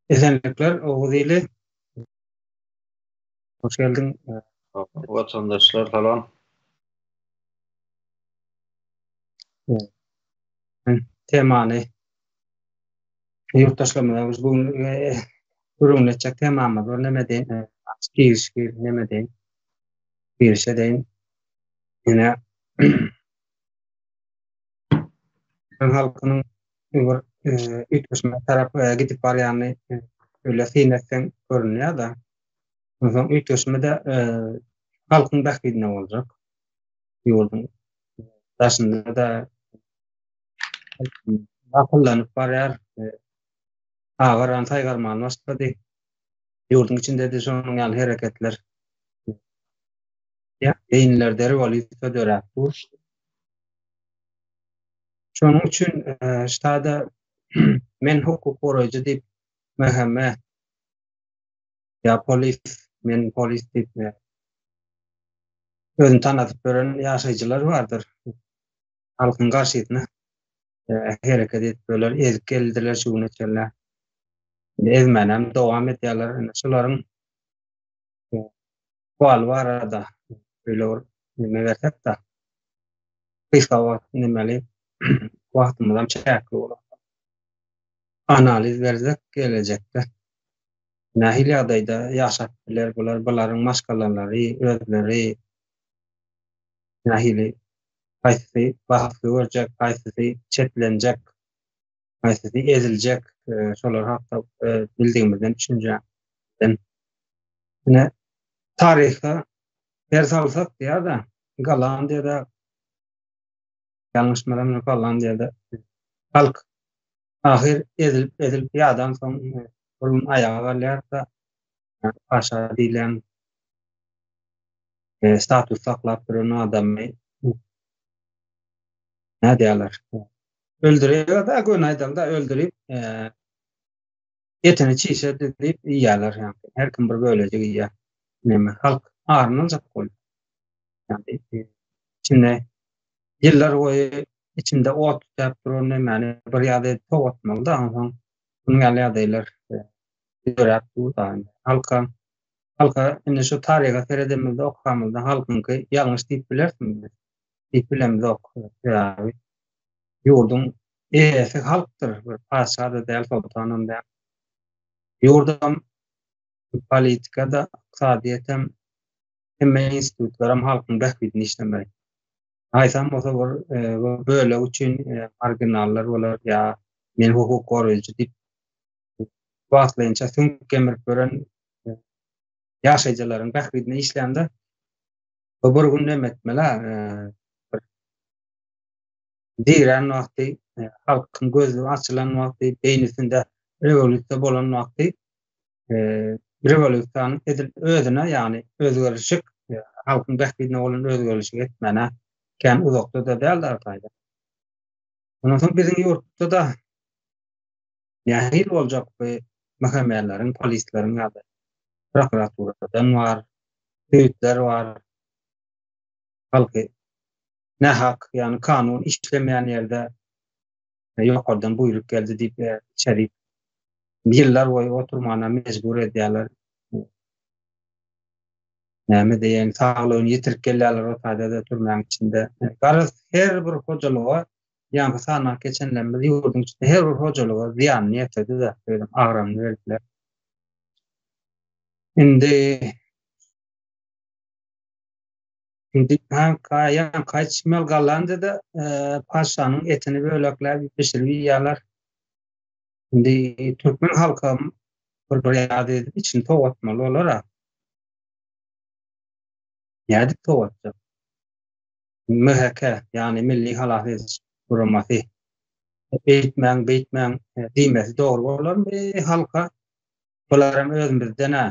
Esenlikler Oguz ili. Hoş geldiň. Watandaşlar salam. Temany ýurtdaşlarymyza biz bugün gürrüňini etjek temamyz bar. Näme deýin? Giriş gir, näme deýin? Girişe deýin. Ýöne halkynyň Öňür üýtgeşmä tarap gidip barýany öýle syn etseň görünýär-de. Onsoň üýtgeşme-de halkyň bähbidine boljak. Ýurduň daşynda-da gakyllanyp barýar. Agaran, saýgarman başlady. Ýurduň içinde-de şonuň ýaly hereketler beýinlerde rewolýusiýa döräp dur. Şonuň üçin ştada men hukuk goraýjy diýip mähemme ýa polis men polis diýip özüni tanadyp beren ýaşaýjylar bardyr. Halkyň garşysyna hereket edip öler, ezip geldiler şu güne çenli. Ezmänem dowam edýärler. Şolaryň Sual barada öýle bir neme bersek-de, gysga wagt nemeli wagtymyzam çäkli bolar. Analiz bersek gelejekde nähili ýagdaýda ýaşap biler bular, bularyň maşgalalary, özleri nähili, haýsy basgy görjek, haýsysy çetlenjek. Haýsysy eziljek, şolar hakda bildigimizden düşünjä. Ine, taryha her salsak diýýär-de, Gollandiýada ýalňyşmaram ýok, Gollandiýada halk ahyr ezilip, ezilip ýadan soň bir gün aýaga galýar-da, paşa diýlen e, status saklap duran adamy nädýärler? Öldürýär-de, göni aýdaly-da öldürip, eee, etini çişe düzüp iýýärler, ýagny her kim bir bölejik iýýär. Näme, halk aryn aljak bolup. Ýagny, içinde ýyllar boýy içinde ot tütäp duran nemäni bir ýa-da tow atmaly-da, onsoň munuň ýaly ýagdaýlar döräp dur-da. Halka, halka indi şu taryha seredemizde, okamyzda halkyňky ýalňyş diýip bilersiň. Geplemzok sebäbi ýurduň eýesi halkdyr, bir patyşa-da däl, soltanam däl. Ýurdam, politika-da, ykdysadyýetem, hemme institutlaram halkyň bähbidine işlemeli. Haýsam bolsa bir bölek üçin marginallar bolar ýa men hukuk goraýjy diýip wagtlaýynça süňk gemirip ýören ýaşaýjylaryň bähbidine işlände Bu bir gün näme etmeli? Diýren wagty, e, halkyň gözi açylan wagty, beýnisinde rewolýusiýa bolan wagty, e, rewolýusiýanyň edil özüne, ýagny özgerişik, e, halkyň bähbidine bolan özgerişik etmäne kän uzakda-da däldi arkaýda. Ondan soň biziň ýurtda-da Nähili boljak bu mhmleriň, polisleriň ýa-da prokuraturadan bar, söýütler bar. Halky nähak, ýagny kanun işlemeýän ýerde ýokardan buýruk geldi diýip içerik ýyllar boýy oturmana mejbur edýärler. Näme diýeýin, saglygyny ýitirip gelýärler o taýda-da türmäň içinde. Garaz, her bir hojalyga ýaňky sanaw geçenlerimiz ýurduň içinde her bir hojalyga zyýanyny ýetirdi de, özem agramyny berdiler. Indi Indi kanka ýan kaç mel galanda da e, paşanyň etini bölekläp bişirip ýalar. Indi türkmen halky bir bir ýady içini towatmaly olar ha. Ýady towatjak. MHK, ýagny Milli Halas Ediş Guramasy eýtmäň, beýtmäň diýmesi dogry bolarmy halka? Bular hem özümizden-ä,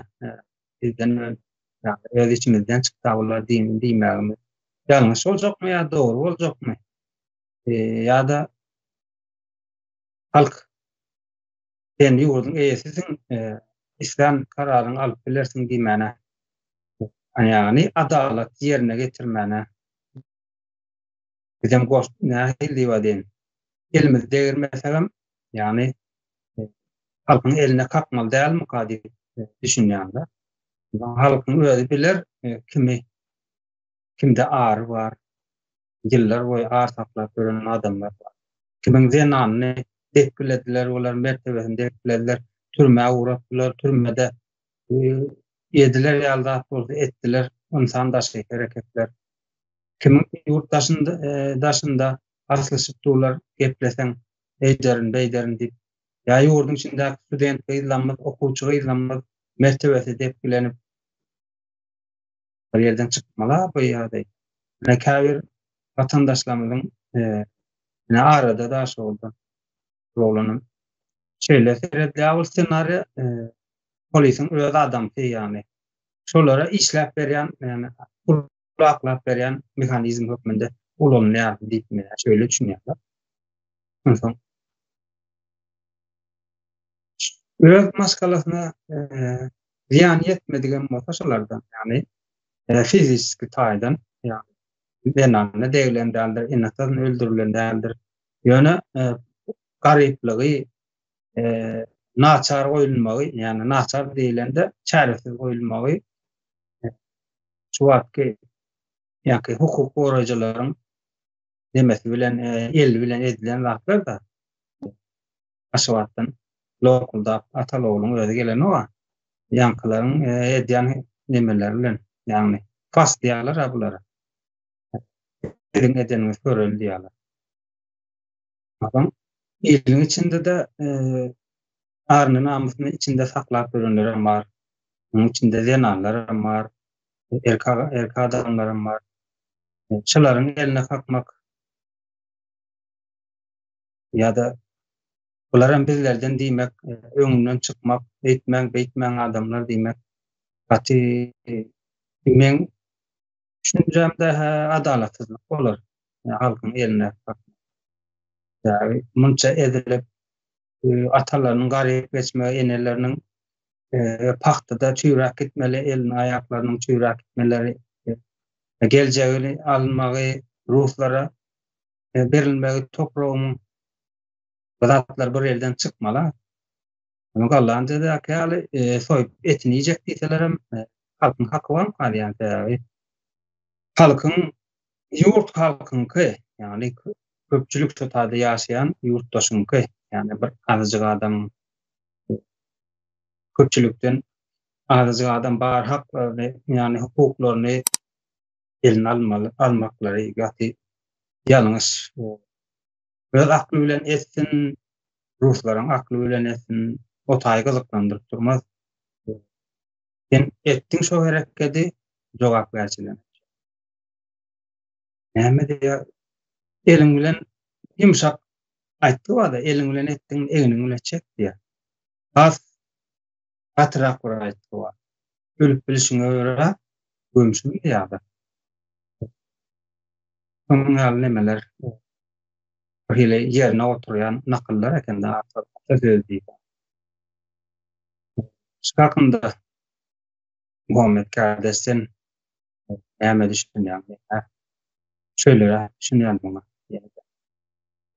bizden öň, ýagny öz içimizden çyksa bular diýmegimiz ýalňyş boljakmy ýa dogry boljakmy? Ýa-da halk Sen ýurduň eýesisin, e, islen kararyňy alyp bilersiň diýmäne. Ýagny adalat ýerine getirmäne. Bizem goş nähili diýip adeýin. Elimizi degirmesek hem, ýagny e, halkyň eline kakmaly dälmika diýip e, düşünýän-de. Halkyň özi biler e, kimi kimde ary bar, ýyllar boýy ar saklap ýören adamlar bar. Kimiň zenanyny depgilediler, olaryň mertebesini depgilediler, türmä ugratdylar, türmede ediler ýaly zat bolsa etdiler, ynsan daşy hereketler. Kimiň ýurt daşynda, daşynda aslyşyp durlar, gepleseň, eýderin, beýderin diýip. Ýa ýurduň içindäki student gyzlamyz, okuwçy gyzlamyz mertebesi depgilenip. bir ýerden çykmaly bu ýa-da ine käbir watandaşlarymyzyň ine arada daş boldy bu oglanam şeýle seredýär bu ssenariýa polisiň öz adamsy ýagny şolara işläp berýän ýagny pul aklap berýän mehanizm hökmünde ulanylýar diýip men şeýle düşünýän onsoň öz maşgalasyna Zyýany ýetmedigem bolsa şolardan, ýagny fizisiki taýdan, ýagny zenana deglen däldir, ene syn öldürilen däldir. Ýöne garyplygy, naçar goýulmagy, ýagny naçar diýlende çäresiz goýulmagy şu wagtky ýa-ki hukuk goraýjylaryň nemesi bilen, eli bilen edilen zatlar-da. Aşgabatdan lokuldap Atalyogluň özi gelenok-a. Ýaňkylaryň edýän nemeleri bilen, ýagny pas diýýärler-ä bulara. Siziň edeniňizi göreli diýýärler. Adam iliň içinde-de aryny-namysyny içinde saklap ýörenlerem bar. Munuň içinde zenanlaram bar, erkek adamlaram bar. Şolaryň eline kakmak. ýa-da bular hem bizlerden diýmek, e, öňünden çykmak, eýtmäň, beýtmäň adamlar diýmek. Gaty e, meň düşünjämde adalatsyzlyk bolar. Yani, halkyň eline yani, munça edilip e, atalarynyň garyp geçmegi, eneleriniň e, pahtada çüýräp gitmeli, elini aýaklarynyň çüýräp gitmeleri, e, geljegini almagy ruslara e, berilmegi topragyň bu zatlar bir elden çykmala. Ony gallan jezäki ýaly e, soýup etini iýjek diýseler hem e, halkyň haky bar hali ýaly sebäbi halkyň ýurt halkyňky ýagny köpçülik totada ýaşaýan ýurtdaşyňky ýagny bir azajyk adam e, köpçülikden azajyk adam bar haklaryny ýagny hukuklaryny eline almaly, almaklary gaty ýalňyş. Öz akly bilen etsin, ruslaryň akly bilen etsin, o taýy gyzyklandyryp durmaz. Sen etdiň şo herekedi, jogapkärçilen. Näme diýýär? Eliň bilen ýumşak aýtdy wada, eliň bilen etdiň, egniň bilen çek diýýär. Has Gatyrak bir aýtgy bar. Ölüp bilişiňe görä, gömşüň ýa-da. Şonuň ýaly nemeler bir hili ýerine oturýan nakyllar eken-de ata söz diýip. Şikakynda Muhammet Kärdeş sen Näme düşünýäň? Näme? Şeýle düşünýän muňa.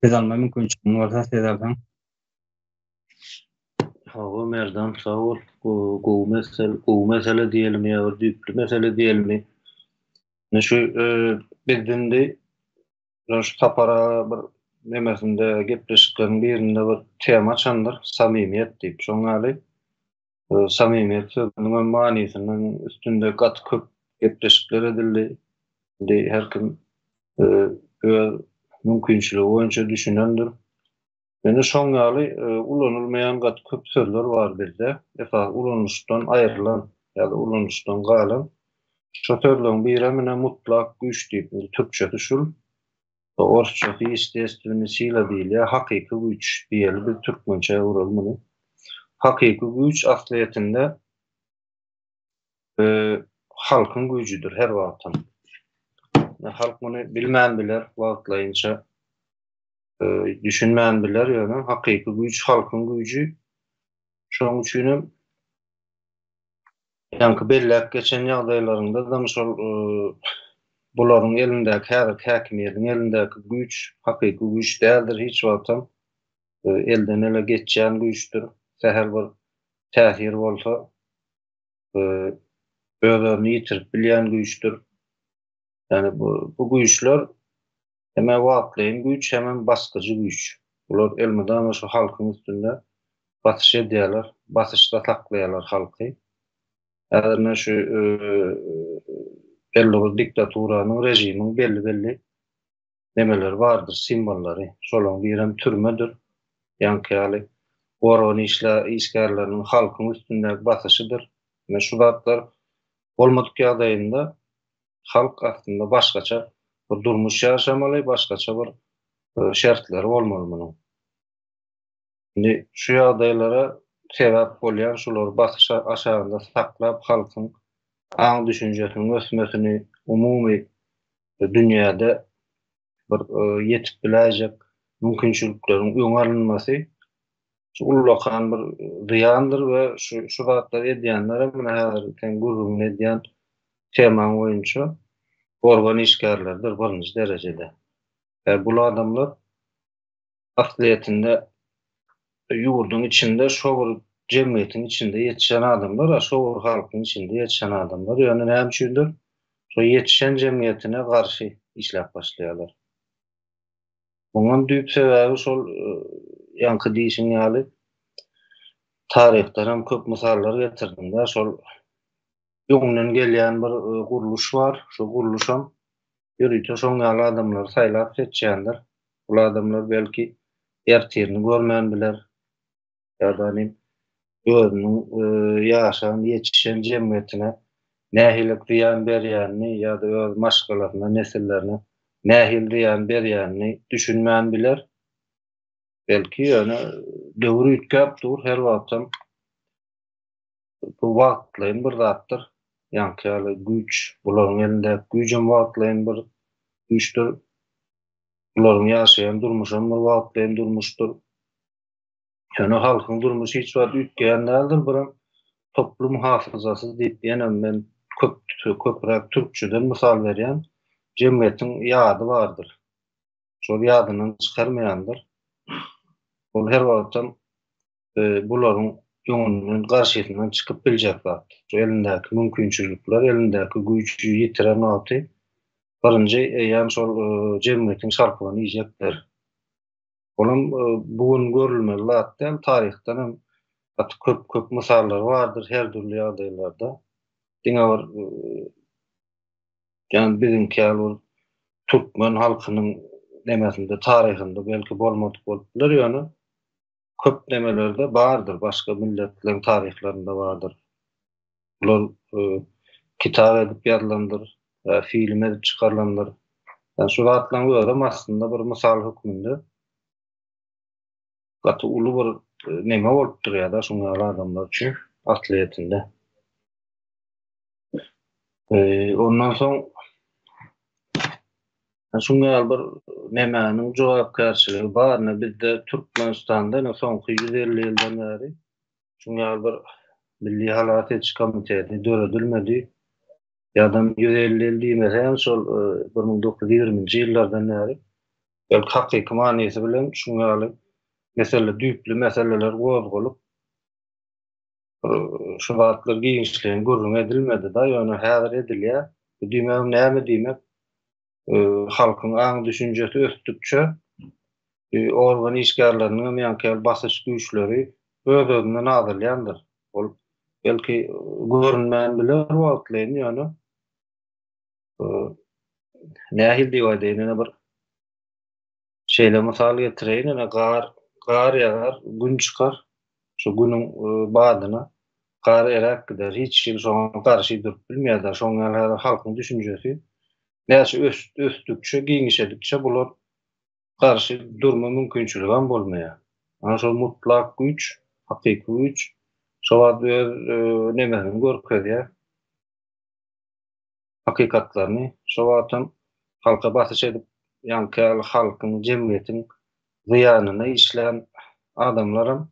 Söz alma mümkinçiligiň bolsa söz alsaň. Hawa, Merdan, sag bol. Gowy mesele, gowy mesele diýelim ýa bir düýpli mesele diýelmi? Ine şu e, biz indi şu sapar aga bir nemesinde gepleşikleriň birinde bir tema açandyr, samimiýet diýip. Şoň ýaly Samymyýet sözüniň hem manysynyň üstünde gaty köp gepleşikler edildi. Indi her kim öz mümkinçiligi boýunça düşünendir. Ýöne şoň ýaly ulanylmaýan gaty köp sözler bar bizde. Esasy ulanyşdan aýrylan ýa-da ulanyşdan galan. Şo sözleň birem ine mutlak güýç diýip, türkçesi şul. Orsçasy ýestestwennyý sila diýilýär, hakyky güýç diýeli biz türkmençä öwreli muny. Hakyky güýç aslyýetinde halkyň güýjüdir her wagtam. Halk muny bilmän biler wagtlaýynça düşünmän biler ýöne hakyky güýç halkyň güýji. Şonuň üçin hem Ýaňky belläp geçen ýagdaýlarynda-dam şol bularyň elindäki häzirki häkimiýetiň elindäki güýç hakyky güýç däldir hiç wagtam elden-ele geçýän güýçdür. Sähel bir täsir bolsa öz-özüni ýitirip bilýän güýçdür. Ýagny bu güýçler Hemä wagtlaýyn güýç hemem basgyjy güýç. Bular elmydama şu halkyň üstünde basyş edýärler, basyşda saklaýarlar halky. Häzir men şu belli bir diktaturanyň, režimiň belli-belli nemeleri bardyr, simwollary. Şolaryň birem türmedir. Ýaňky ýaly gorgan işle işgärleriniň halkyň üstündäki basyşydyr. Ine şu zatlar bolmadyk ýagdaýynda halk aslynda başgaça bir durmuş ýaşamaly, başgaça bir şertleri bolmaly munuň. Indi şu ýagdaýlara sebäp bolýan şular basyş aşagynda saklap halkyň aň-düşünjesiniň ösmesini umumy dünýäde bir ýetip biläýjek mümkinçilikleriň öňi alynmasy şu ullakan bir zyýandyr we şu şu zatlary edýänler hem muny häzir sen gürrüňini edýän temaň boýunça organ işgärleridir birinji derejede. Bular adamlar aslyýetinde ýurduň içinde şo bir jemgyýetiň içinde ýetişen adamlar-a şo bir halkyň içinde ýetişen adamlar. Ýöne näme üçindir, şo ýetişen jemgyýetine garşy işläp başlaýarlar. Muňam düýp sebäbi şol ýaňky diýşiň ýaly, taryhdanam köp mysallar getirdiň-dä, şol öňden gelýän bir gurluş bar. Şu gurluşam ýörite şoň ýaly adamlary saýlap seçýändir. Bul adamlar belki ertirini görmän biler. Ýa-da nim özüniň ýaşan, ýetişen jemgyýetine nähili zyýan berýänini ýa-da öz maşgalasyna, nesillerine nähili zyýan berýänini düşünmän biler. Belki ýöne döwür üýtgäp dur, her wagtam Bu wagtlaýyn bir zatdyr. Ýaňky ýaly güýç, bularyň elindäki güýjem wagtlaýyn bir güýçdür. Bularyň ýaşaýan durmuşam bir wagtlaýyn durmuşdyr. Ýöne halkyň durmuşy hiç wagt üýtgeýän däldir. Birem toplum hafyzasy diýip ýene men köp, köpräk türkçeden mysal berýän. Jemgyýetiň ýady bardyr. Şol ýadyndan çykarmaýandyr. Ol her wagtam bularyň öňünden, garşysyndan çykyp biljek zat. Şu elindäki mümkinçilikler, elindäki güýji ýitiren wagty birinji eýýäm şol e, jemgyýetiň şarpygyny iýjekler. Olam e, bu gün görülmeli zat däl, taryhdan hem gaty köp köp mysallar bardyr her dürli ýagdaýlarda. Diňe bir e, ýani biziňki ýaly bir türkmen halkynyň nemesinde, taryhynda belki bolmadyk bolup biler, ýöne köp nemelerde bardyr, başga milletleriň taryhlarynda bardyr. Bular e, kitap edip ýazylandyr, e, film edip çykarylandyr. Yani şu zatlaryň özem aslynda bir mysal hökmünde gaty uly bir e, neme bolup durýar-da şuň ýaly adamlar üçin aslyýetinde. Ee, ondan soň şunlar bir nemäniň jogapkärçiligi barny bizde Türkmenistanda ne soňky 150 ýyldan bäri şunlar bir milli halat ediş komiteti döredilmedi. Ýadam 150 ýyl diýmese hem şol 1920-nji e, ýyllardan bäri belki hakyky manysy bilen şunlar mesele düýpli meseleler gozgalyp şu wagtlar giňişleýin gürrüň edilmedi-de, ýöne häzir edilýär. Bu diýmegim näme diýmek? Halkyň aň-düşünjesi ösdükçe, organ işgärleriniň hem ýaňky ýaly basyş güýçleri öz-özünden azalýandyr. Ol, belki, görünmän biler wagtlaýyn, ýöne nähili diýip aýdaýyn, ýene bir Şeýle mysal getireýin, ine, gar, gar ýagar, gün çykar. Şu günüň e, badyna gar eräp gider. Hiç kim şoňa garşy durup bilmeýär-de. Şoň ýaly häzir halkyň düşünjesi näçe ösdükçe, giňişedikçe bular garşy durma mümkinçiligem bolmaýar. Ana şol mutlak güýç, hakyky güýç şo wagt öz e, nemesini görkezýär. hakykatlaryny, şo wagtam halka basyş edip, ýaňky ýaly halkyň, jemgyýetiň zyýanyna işlän adamlaram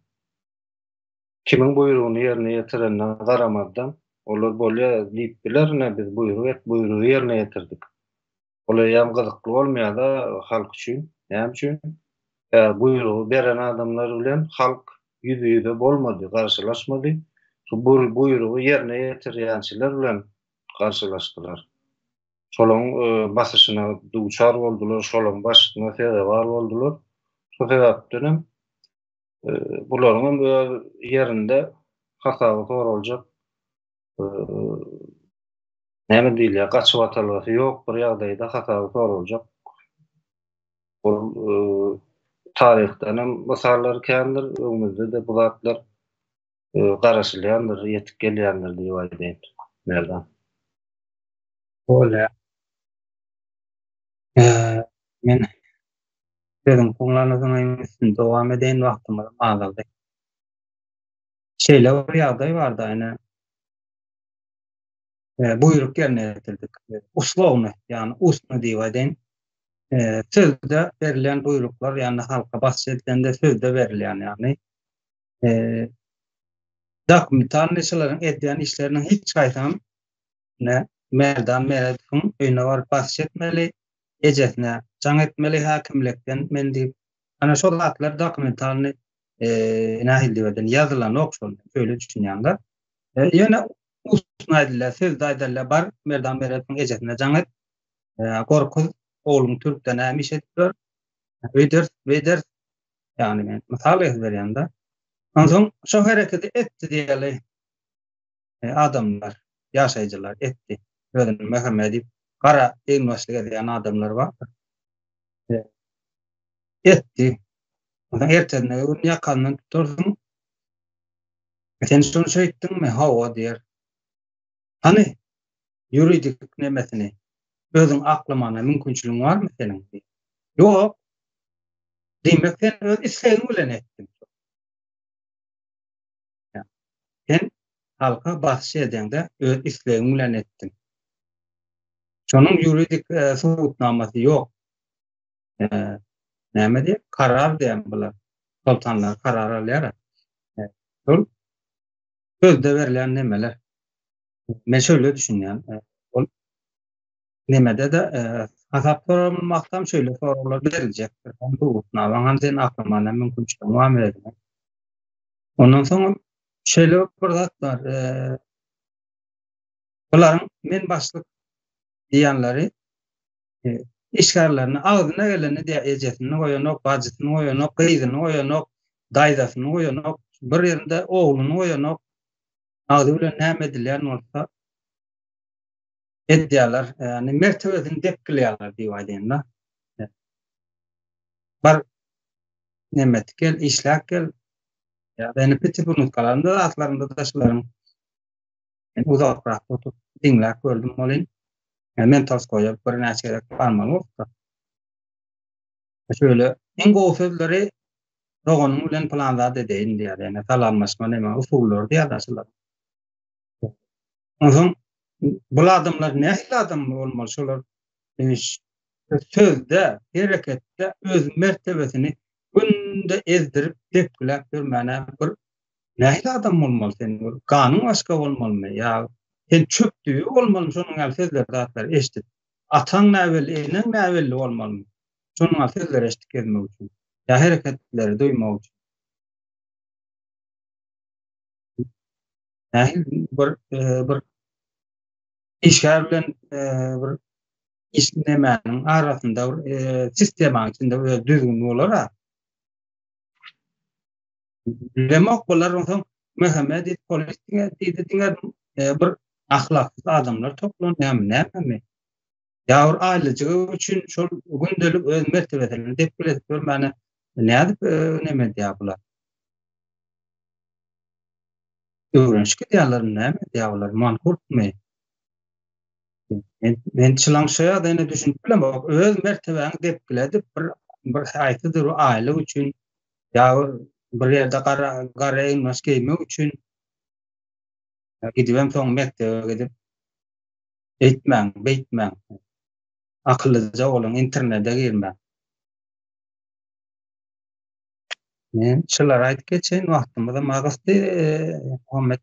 kimiň buýrugyny ýerine ýetirenine garamazdan, olar bolýa diýip biler, ine, biz buýruk et, buýrugy ýerine ýetirdik. Ol eýýäm gyzykly bolmaýar-da halk üçin. Näme üçin? Tä buýrugy beren adamlar bilen halk ýüzbe-ýüze bolmady, garşylaşmady. Şu buýrugy ýerine ýetirýänçiler bilen garşylaşdylar. Şolaryň basyşyna duçar boldular, şolaryň basyşyna sezewar boldular. Şo sebäpden hem bularyň hem öz ýerinde hasaby soraljak näme diýilýär, gaçybatalgasy ýok bir ýagdaýda hasaby soraljak bol taryhdan hem mysallar kändir, öňümizde-de bu zatlar garaşylýandyr, ýetip gelýändir diýip aýdaýyn, Merdan. Bolýa. Men sözüň soňlanyzyňyň üstünde dowam edeýin, wagtymyzam azaldy. Şeýle bir ýagdaý barda, ine, buýruk ýerine ýetirdik. Uslowny, ýagny ustny diýip aýdaýyn. Sözde berlen buýruklar, ýagny halka basjy edilende sözde berilýän, ýagny Eee, dokumentalnyçylaryň edýän işleriniň hiç haýsam, ne, Merdan Meredowyň öýüne baryp basyş etmeli, ejesine jaň etmeli häkimlikden men diýip, ana şo zatlar dokumentalny, eee, nähili diýip eden, ýazylanok şol, şeýle düşünýän-de. E, ýöne ustuna aýdylýar, sözde aýdylýar, bar, Merdan Meredowyň ejesine jaň et, eee, gorkuz, ogluň türkde näme iş edip ýör, öýder, beýder, Yani men misal berýände. Onsoň şo hereketi etdi diýeli e, adamlar, ýaşaýjylar etdi. Özüni möhürme edip, gara eýinbaşlyk edýän adamlar bar. E, etdi. Ondan ertesine gün ýakandan tutarsyň. E, sen şonu şeýtdiňmi? Hawa diýer. Hany ýuridik nemesini özüň aklamana mümkinçiligiň barmy seniň? Ýok. Diýmek sen öz islegiň bilen etdiň. Sen halka basyş edende öz islegiň bilen etdiň. Şonuň ýuridik subutnamasy ýok. Näme diýip karar diýen bular. Soltanlar karar alýar. Şol sözde berlen nemeler. Men şöyle düşünýän. E, ol nemede de e, hasap sorulmakdan şöyle sorgular beriljekdir. Hem hukukna, hem sen aklymana mümkinçilik var mı demek. Ondan sonra şöyle bir zat var. E, bunların men başlık diýenleri e, işgärlerini agzyna geleni diýä ejesini goýanok, bajysyny goýanok, gyzyny goýanok, daýzasyny goýanok, bir ýerinde ogluny goýanok, Agzy bilen näme edilýän bolsa edýärler. Ýagny mertebesini depgilýärler diýip aýdaýyn-da. Bar nemet gel, işläp gel. Ýagny piti bunutkalarynda zatlarynda da şularyň uzakrak oturyp diňläp gördüm welin, men Tolstoýa birnäçe gezek barmaly bolupdyr. Şeýle iň gowy sözleri Doganyň bilen pylan zat edeýin diýýär. Ýagny salamlaşma näme usullary diýýärler şular. Onsoň bul adamlar nähili adam bolmaly şolar sözde, hereketde öz mertebesini günde ezdirip depgiläp ýörmäne bir nähili adam bolmaly sen bir ganyň başga bolmalymy ýa sen çöp düýe bolmalymy şonuň ýaly sözleri zatlar eşdip ataň näbelli eneň näbelli bolmalymy Şonuň-a sözleri eşitdik ezmek üçin. Ýa hereketleri duýmak üçin. Nähili bir e, bir işgär bilen e, bir iş nemäniň arasynda bir e, sistemanyň içinde öz düzgün bolar ha. Bilemok bolar onsoň Mehmet diýip polis diňe diýdi diňe e, bir ahlaksyz adamlar toplan näme näme ýa bir aýlyjygy üçin şol gündelik öz mertebesini depgin edip görmäne nädip e, näme edýär bular? Öwrenişik edýärler, näme edýär bular? Mankurtmy? Men, men çylaň şu ýa ýene düşünip bilemok. Öz mertebäňi depgin edip bir bir haýsydyr bir aýlyk üçin ýa bir ýerde gara gara eýmäş geýmek üçin gidip hem soň mekdebe gidip Eýtmäň, beýtmäň. Akyllyja boluň, internede girmäň. Men şulary aýdyp geçeýin, wagtymyzam agysdy. Muhammet,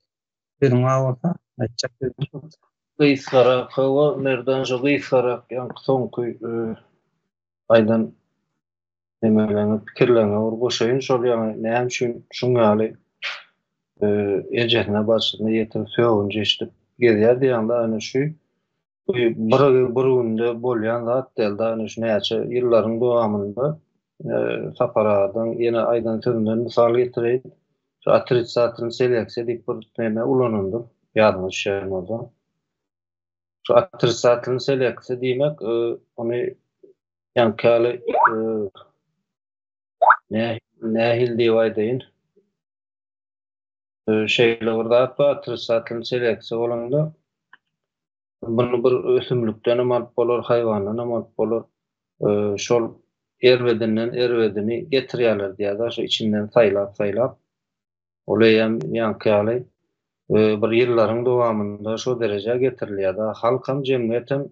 sözüň bar bolsa, aýtjak sözüň. Gysgarak, hawa, Merdan şu gysgarak, ýaňky soňky aýdan. Nemelerňiz, pikirleriňizi bir goşaýyn şol ýaňy näme üçin şuň ýaly ejesine barşyna ýetir sögünç eşidip gezýär diýýäňde ýöne şu bir bir günde bolýan zat däl da ýöne şu näçe ýyllaryň dowamynda Sapar agadan ýene aýdan sözünden mysal getireýin şu otrisatorny seleksiýa diýip bir neme ulanandyr ýadyňyza düşýän bolsa şu otrisatorny seleksiýa diýmek ony Ýaňky ýaly nähili diýip aýdaýyn, şeýle bir zat bar, otrisatlny seleksiýa bolanda muny bir ösümlikden hem alyp bolar, haýwandan hem alyp bolar. Şol erbedinden erbedini getirýärler diýýär-de, şo içinden saýlap-saýlap. Ol eýýäm ýaňky ýaly bir ýyllaryň dowamynda şo derejä getirilýär-de, halkam, jemgyýetem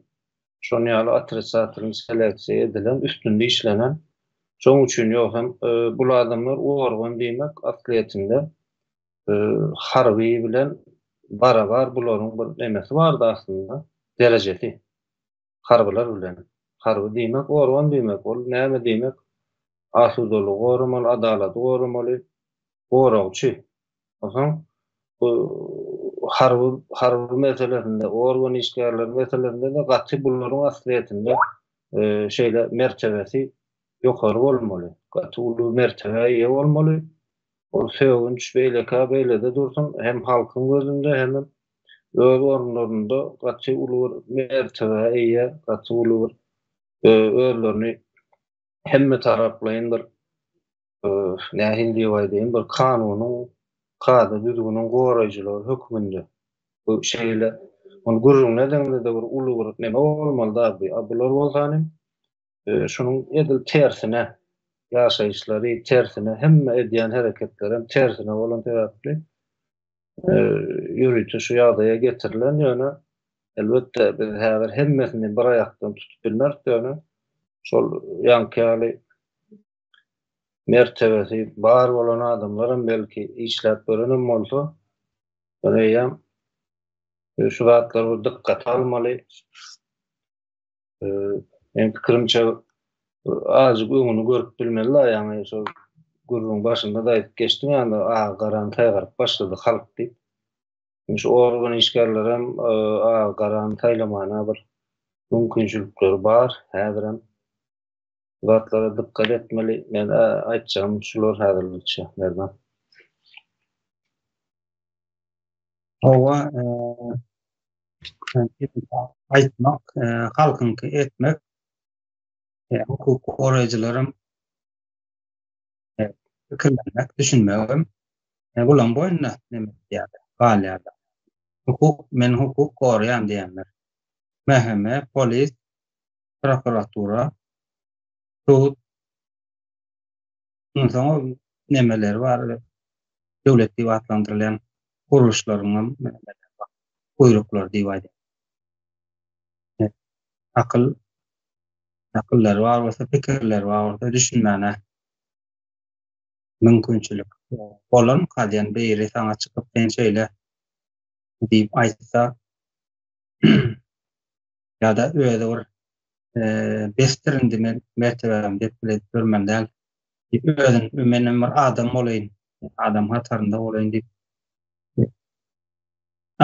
şon ýaly otrisatilny seleksiýa edilen, üstünde işlenen. Şoň üçin ýok hem bul adamlar organ diýmek aslyýetinde harby bilen barabar bularyň bir nemesi bardy aslynda, derejesi. harbylar bilen. Harby diýmek organ diýmek, ol näme diýmek? Asudalygy goramaly, adalaty goramaly goragçy. Onsoň bu harby harby meselesinde, organ işgärleri meselesinde-de gaty bularyň aslyýetinde şeýle mertebesi ýokary bolmaly, gaty uly mertebä eýe bolmaly, Ol sögünç beýlekä beýlede dursun, hem halkyň gözünde, hemem öz orunlarynda gaty uly bir mertebä eýe, gaty uly bir özlerini hemmetaraplaýyn bir, nähili diýip aýdaýyn, bir kanunyň, kada-düzgüniň goraýjylary hökmünde. Bu şeýle, muny gürrüňledigiňde-de bir uly bir neme bolmaly-da, a bular bolsa hanym, Şunuň edil tersine, ýaşaýyşlary tersine, hemme edýän hereketlerem tersine bolan sebäpli ýörite şu ýagdaýa getirilen, ýöne elbetde biz häzir hemmesini bir aýakdan tutup bilmeris, ýöne şol ýaňky ýaly mertebesi bar bolan adamlaram belki işläp görenem bolsa, ýöne eýýäm şu zatlar bir dykgata almaly. Men pikirimçe azjyk öňüni görüp bilmeli la yani şol gürrüň başynda da aýdyp geçdim yani agy garan saýgaryp başlady halk diýip. Şu organ işgärleri hem e, agy garany saýlamana bir mümkinçilikleri bar häzir hem. zatlara dykgat etmeli. Men aýtjagym şular häzirlikçe Merdan. Hawa, aýtmak, halkyňky etmek. Hukuk goraýjylaram pikirlenmek, düşünmegem gulaň boýunda neme edýär, galýar. Hukuk, men hukuk goraýan diýenler. Mhme, polis, prokuratura, sud, ondan soň ol nemeleri bar, döwlet diýip atlandyrylýan gurluşlaryň hem buýruklary diýip aýdýar. Akyl, akyllary bar bolsa, pikirleri bar bolsa, düşünmäne mümkinçilik bolan kazyýan biri saňa çykyp, sen şeýle diýip aýtsa, ýa-da özi bir besdir indi men mertebämi dep bile edip ýörmän däl diýip özüni menem bir adam bolaýyn, adam hatarynda bolaýyn diýip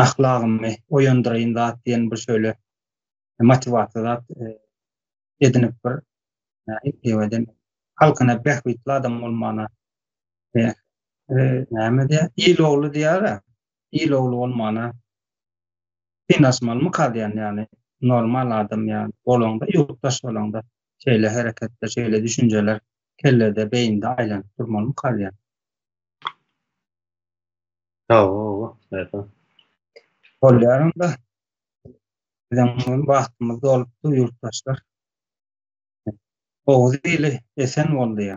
ahlagymy oýandyraýyn zat diýen bir şöýle motiwasiýa zat edinip bir eýweden halkyna bähbitli adam bolmana näme diýýär il ogly diýýär-ä il ogly bolmana synasmalymy kalýan ýaly normal adam ýaly bolaňda ýurtdaş bolaňda şeýle hereketler şeýle düşünjeler kellede beýinde aýlanyp durmalymy kalýan. Hawa hawa. Bolýar onda. Biziň hem wagtymyz dolupdy ýurtdaşlar. Oguz ili esen boldy ýa.